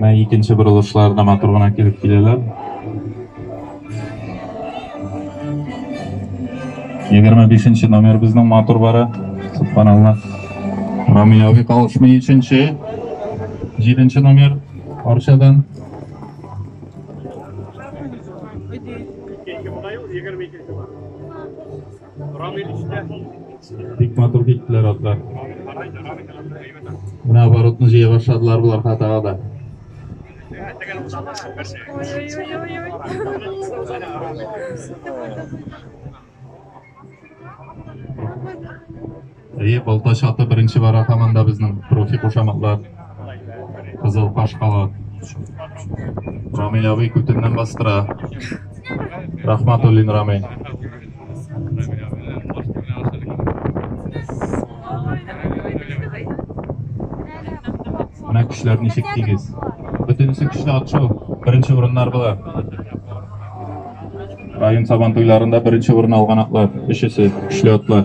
Менә икенче борылышлар да матур гына килеп киләләр. 25 номер безнең матур бара. Субханалла. Рамияви калышмы 3-нче. 7-нче номер Арчадан. Рамил үстә. Бик матур киттеләр атлар. Менә оборотны җыя башладылар болар хатага да. Ой-ой-ой-ой-ой. Әйе, балта чаты беренче бара һаман да безнең профи кушаматлар. Кызыл каш халат. Рамил абый күтеннән бастыра. Рахматуллин Рамил. Менә көчләр ничек тигез. Бөтенесе көчле атшу. Беренче урыннар була. Район сабан туйларында беренче урын алган атлар, өчесе, көчле атлар.